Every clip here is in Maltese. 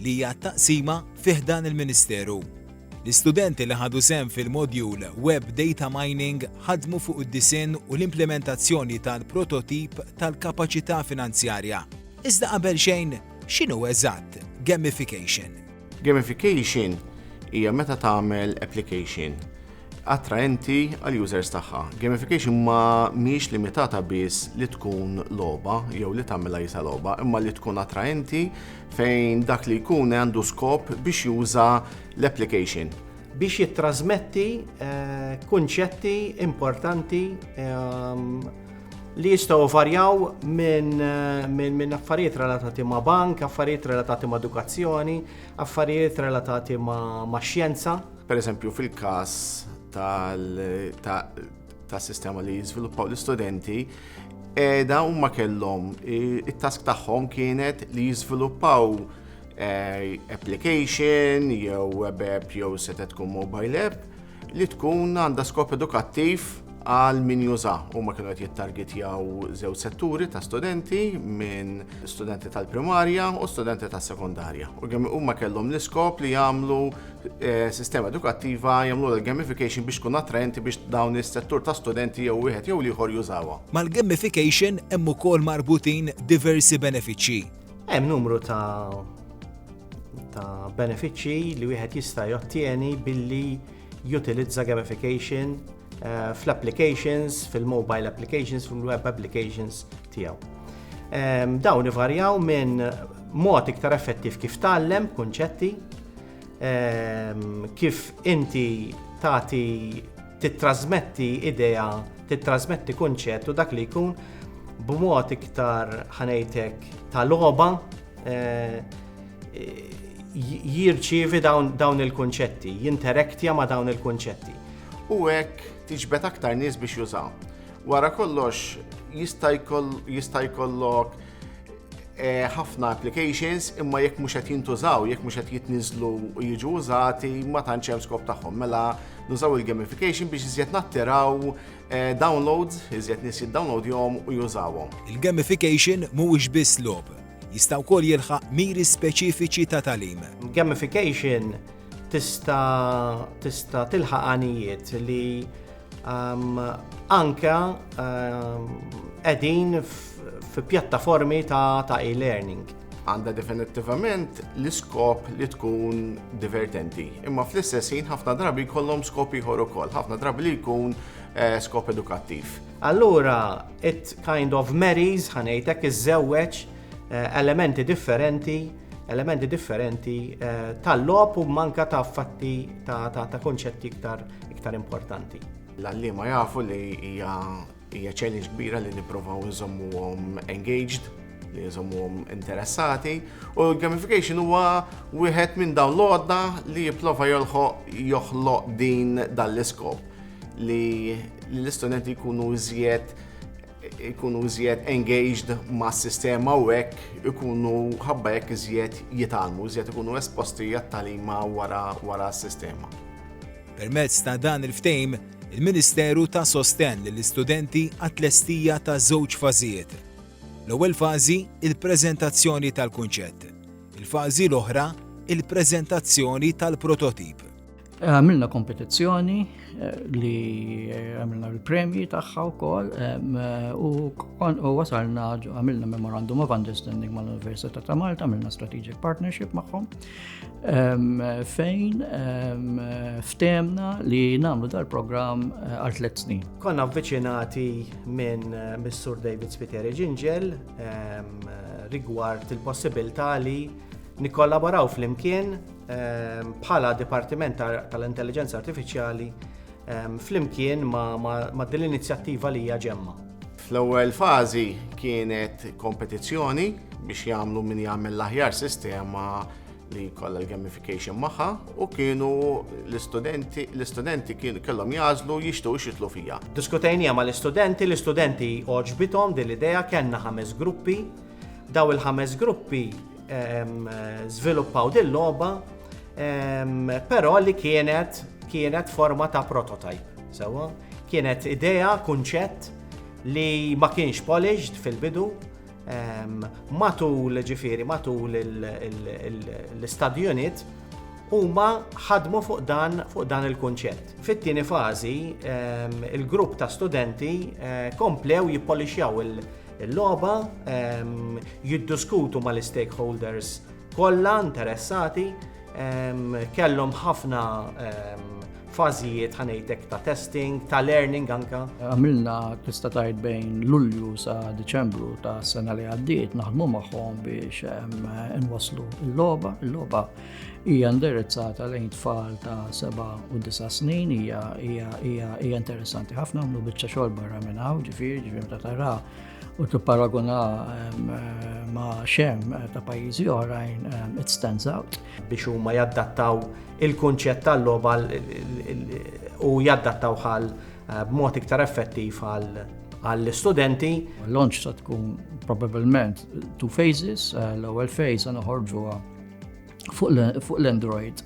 li hija t-taqsima fi ħdan il-Ministeru. L-istudenti li ħadu sehem fil-modjul Web Data Mining ħadmu fuq id-disinn u l-implementazzjoni tal-prototip tal-kapaċità finanzjarja. Iżda qabel xejn, x'inhu eżatt gamification? Gamification hija meta tagħmel application attraenti għall-users tagħha. Gamification ma mhijiex limitata biss li tkun logħba jew li tagħmilha jisa logħba, imma li tkun attraenti fejn dak li jkun għandu skop biex juża l-application. Biex jittrasmetti eh, kunċetti importanti ehm, li jistaw varjaw minn eh, min, min affarijiet relatati ma' bank, affarijiet relatati ma' edukazzjoni, affarijiet relatati ma', ma xjenza. Per eżempju, fil-kas tal tas sistema li jiżviluppaw l-istudenti edha u ma kellhom it-task tagħhom kienet li jiżviluppaw eh, application jew web app jew seta tkun mobile app li tkun għandha skop edukattiv għal min juża u ma kienu qed jittargetjaw żew setturi ta' studenti minn studenti tal-primarja u studenti tas-sekondarja. U kemm huma kellhom l-iskop li jagħmlu Eh, sistema edukattiva jagħmlu l-gamification biex tkun attraenti biex dawn is-settur ta' studenti jew wieħed jew ieħor jużawha. Mal-gamification hemm ukoll marbutin diversi benefiċċji. Hemm numru ta' ta' benefiċċji li wieħed jista' jottieni billi jutilizza gamification eh, fl-applications, fil-mobile applications, fil-web applications tiegħu. Ehm, dawn ivarjaw minn mod iktar effettiv kif tgħallem kunċetti, ehm, kif inti tagħti tittrasmetti idea, tittrasmetti kunċett u dak li jkun b'mod iktar ħanejtek ta' loba eh, jirċievi dawn il-kunċetti, jinteraktja ma' dawn il-kunċetti. U hekk tiġbed aktar nies biex jużaw. Wara kollox jista' jkollok eh, ħafna applications imma jekk mhux qed jintużaw, jekk mhux qed jitniżlu u jiġu użati ma tantx hemm skop tagħhom. Mela nużaw il-gamification biex iżjed nattiraw eh, downloads, iżjed nies jiddownloadjhom u jużawhom. Il-gamification mhuwiex biss lob, jista' wkoll jilħaq miri speċifiċi ta' talim. Gamification tista' tista' tilħaq għanijiet li Um, anka um, edin fi pjattaformi ta', ta e-learning. Għanda definittivament l-iskop li tkun divertenti. Imma fl-istess ħin ħafna drabi kollom skop ieħor ukoll, ħafna drabi li jkun eh, skop edukattiv. Allura, it kind of marries ħanejtek iż-żewweġ eh, elementi differenti elementi differenti eh, tal-lop u manka ta' fatti ta', ta, ta konċetti iktar iktar importanti. L-għallima jafu li hija challenge kbira li nipprovaw nżommuhom engaged, li nżommuhom interessati, u gamification huwa wieħed minn dawn l-għodda li jipprova joħloq din dal-iskop li l-istudenti jkunu iżjed ikunu iżjed engaged ma' sistema u hekk ikunu ħabba hekk iżjed jitalmu, iżjed ikunu esposti għat-talima wara wara s-sistema. Permezz ta' dan il-ftejm, il-Ministeru ta' sostenn lill-istudenti għat-tlestija ta' żewġ fażijiet. L-ewwel fażi, il-preżentazzjoni tal-kunċett. Il-fażi l-oħra, il-preżentazzjoni tal-prototip. Għamilna kompetizzjoni eh, li eh, għamilna l-premji tagħha wkoll eh, u wasalna għamilna memorandum of understanding mal-Università ta' Malta, għamilna strategic partnership magħhom fejn ftemna li nagħmlu dal-programm għal tliet snin. Konna avviċinati minn Mr. David Spiteri Ġinġel rigward il-possibilità li nikkollaboraw fl-imkien Ehm, bħala Dipartiment tal-Intelligenza Artifiċjali ehm, flimkien ma' din l-inizjattiva li hija ġemma. Fl-ewwel fażi kienet kompetizzjoni biex jagħmlu min jagħmel l-aħjar sistema li kollha l-gamification magħha u kienu l-istudenti l-istudenti kienu kellhom jażlu jixtiequ xitlu fija. Diskutejnija ma l-istudenti, l-istudenti oġbithom din l-idea kellna ħames gruppi. Daw il-ħames gruppi żviluppaw din logħba però li kienet kienet forma ta' prototype. Sewa, kienet idea, kunċett li ma kienx polished fil-bidu matul ġifiri, matul l-study unit huma ħadmu fuq dan fuq dan il-kunċett. Fit-tieni fażi, il-grupp ta' studenti eh, komplew jippolixjaw il- Il-logħba ehm, jiddiskutu mal-istakeholders kollha interessati ehm, kellhom ħafna ehm, fażijiet ħanejtek ta' testing, ta' learning anka. Għamilna tista' tajt bejn Lulju sa' Deċembru ta' sena li għaddiet naħdmu magħhom biex nwaslu l-logħba, l-logħba Hija indirizzata lejn tfal ta' 7 u 9 snin, hija hija hija hija interessanti ħafna għamlu biċċa xogħol barra minn hawn, ġifieri ġifieri ta' tara u tipparaguna ehm, ehm, ma' xem eh, ta' pajjiżi oħrajn ehm, it stands out. Biex huma jaddattaw il-kunċett tal-logħba u jaddattaw għal eh, b'mod iktar effettiv għall-studenti. L-launch ta' tkun probabilment two phases, eh, l-ewwel phase għana ħorġuha fuq l-Android,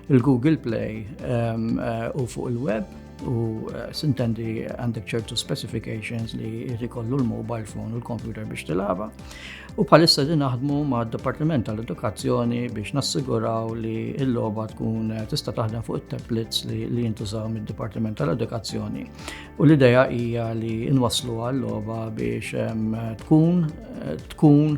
il-Google Play ehm, eh, u fuq il-web u eh, sintendi għandek ċertu specifications li rikollu l-mobile phone u l-computer biex tilaba. U palissa din naħdmu ma' Departiment tal-Edukazzjoni biex nassiguraw li l-loba tkun eh, tista' taħdem fuq it-tablets li, li jintużaw mid-Departiment tal-Edukazzjoni. U l-ideja hija li nwaslu għal-loba biex ehm, tkun tkun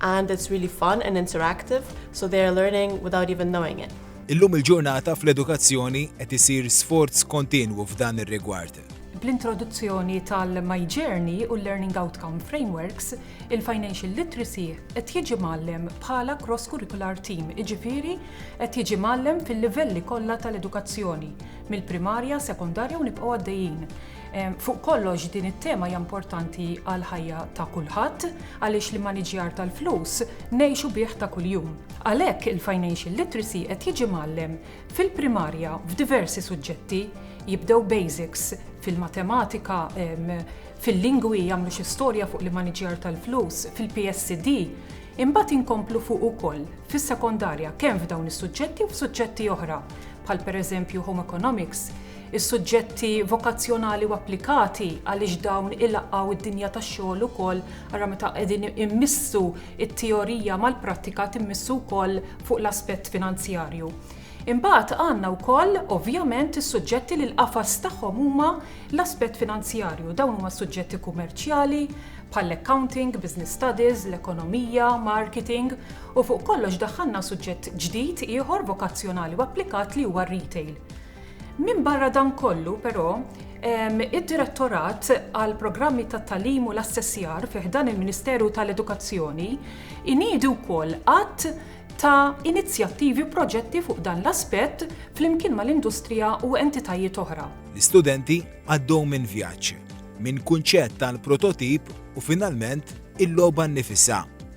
and it's really fun and interactive so they are learning without even knowing it. Illum il-ġurnata fl-edukazzjoni qed isir sforz kontinwu f'dan ir-rigward. Bl-introduzzjoni tal-My Journey u l-Learning Outcome Frameworks, il-Financial Literacy qed jiġi mgħallem bħala cross-curricular team, iġifieri qed jiġi mgħallem fil-livelli kollha tal-edukazzjoni, mill-primarja, sekondarja u nibqgħu għaddejjin. Fuq kollox din it-tema hija importanti għal ħajja ta' kulħadd għaliex li maniġjar tal-flus ngħixu bih ta' kuljum. Għalhekk il-financial literacy qed jiġi mgħallem fil-primarja f'diversi suġġetti, jibdew basics fil-matematika, fil-lingwi jagħmlu xi storja fuq li maniġjar tal-flus, fil-PSD, imbagħad inkomplu fuq ukoll fis-sekondarja kemm f'dawn is-suġġetti u f'suġġetti oħra bħal pereżempju home economics is-suġġetti vokazzjonali u applikati għaliex dawn ilaqqgħu d-dinja tax-xogħol ukoll ara meta qegħdin immissu t-teorija mal-prattika timmissu wkoll fuq l-aspett finanzjarju. Imbagħad għandna wkoll ovvjament is-suġġetti li l-qafas tagħhom huma l-aspett finanzjarju. Dawn huma s-suġġetti kummerċjali bħall-accounting, business studies, l-ekonomija, marketing u fuq kollox daħħalna suġġett ġdid ieħor vokazzjonali u applikat li huwa r-retail. Minbarra dan kollu, però, id-Direttorat għall-Programmi tat-Tagħlim u l-Assessjar fi ħdan il-Ministeru tal-Edukazzjoni iniedi wkoll għadd ta' inizjattivi u proġetti fuq dan l-aspett flimkien mal-industrija u entitajiet oħra. L-istudenti għaddew minn vjaġġ, minn kunċett għal prototip u finalment il-logħba nnifisha.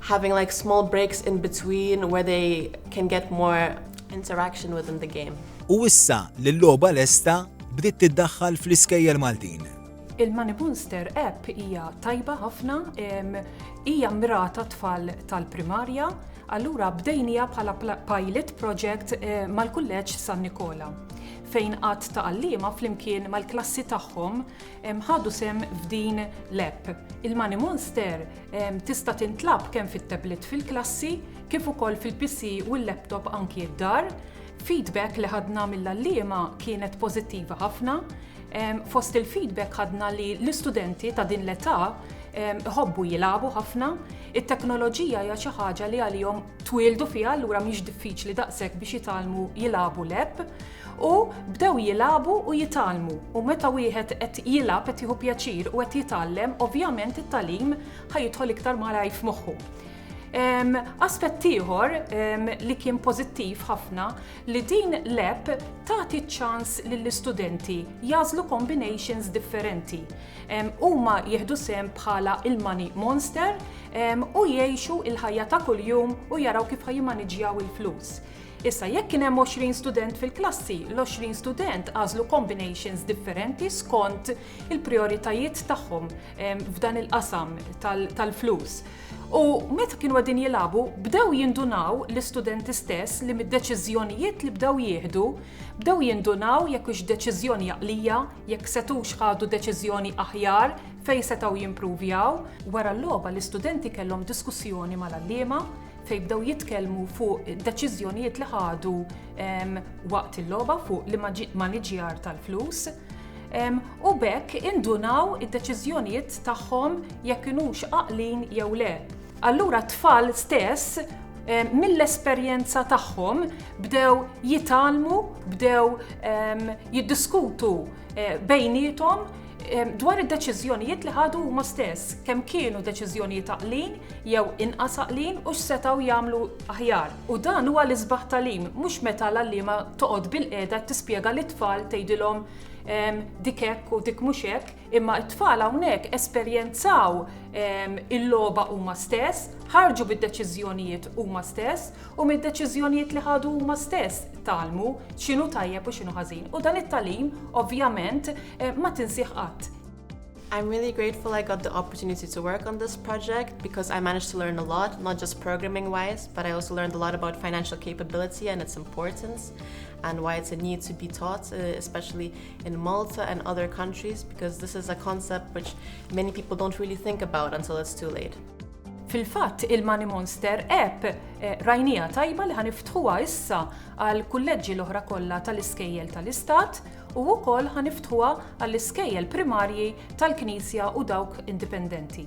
having like small breaks in between where they can get more interaction within the game. U issa li l-logħba lesta bdiet tiddaħħal fl-iskejjel Maltin. Il-Manipunster app hija tajba ħafna, hija mirata tfal tal-primarja, allura bdejnija bħala pilot project eh, mal-kulleġġ San Nikola fejn qatt ta' għallima flimkien mal-klassi tagħhom ħadu sem f'din l-app. Il-Money Monster Tista' tintlab kemm fit-tablet fil-klassi kif ukoll fil-PC u l-laptop anki d-dar. Feedback li ħadna mill-għalliema kienet pożittiva ħafna. Fost il-feedback ħadna li l-istudenti ta' din l-età iħobbu jilagħbu ħafna. It-teknoloġija hija xi ħaġa li għalihom twieldu fiha allura mhix diffiċli daqshekk biex jitgħallmu jilagħbu leb. U bdew jilagħbu u jitgħallmu. U meta wieħed qed jilgħab, qed jieħu pjaċir u qed jitgħallem, ovvjament it-tagħlim ħa jidħol iktar malajr f'moħħu. Aspett ieħor li kien pożittiv ħafna li din l-app tagħti ċ-ċans lill-istudenti jagħżlu combinations differenti. Huma jieħdu sehem bħala il-money monster u jgħixu l-ħajja ta' kuljum u jaraw kif ħa jimmaniġġjaw il-flus. Issa jekk kien hemm 20 student fil-klassi, l-20 student għażlu combinations differenti skont il-prioritajiet tagħhom ehm, f'dan il-qasam tal-flus. U meta kienu għedin jilabu, bdew jindunaw l-istudenti stess li mid-deċizjonijiet li bdew jieħdu, bdew jindunaw jekk ux deċizjoni jaqlija, jekk setux ħadu deċizjoni aħjar fej setaw jimprovjaw. Wara l-loba l-istudenti kellhom diskussjoni mal-allima fejn bdew jitkellmu fuq deċiżjonijiet li ħadu waqt il-logħba fuq li maniġjar tal-flus. U bekk indunaw id-deċiżjonijiet tagħhom jekk inux aqlin jew le. Allura t-tfal stess mill-esperjenza tagħhom bdew jitalmu, bdew jiddiskutu bejnietom dwar id-deċiżjonijiet li ħadu huma stess, kemm kienu deċiżjonijiet taqlin jew inqas aqlin u x'setgħu jagħmlu aħjar. U dan huwa l-isbaħ talim, mhux meta l-għalliema toqgħod bil-qiegħda tispjega lit-tfal tgħidilhom ehm, dik hekk u dik mhux hekk, imma t-tfal hawnhekk esperjenzaw ehm, il-logħba huma stess, ħarġu bid-deċiżjonijiet huma stess, U mid-deċiżjonijiet li ħadu huma stess tgħallmu x'inhu tajjeb u x'inhu ħażin. U dan it-tagħlim, ovvjament, ma tinsih qatt. I'm really grateful I got the opportunity to work on this project because I managed to learn a lot, not just programming wise, but I also learned a lot about financial capability and its importance and why it's a need to be taught, uh, especially in Malta and other countries, because this is a concept which many people don't really think about until it's too late. Fil-fatt il-Money Monster App rajnieha tajba li ħa niftħuha issa għall-kulleġġi l-oħra kollha tal-iskejjel tal-istat u wkoll ħa niftħuha għall-iskejjel primarji tal-Knisja u dawk indipendenti.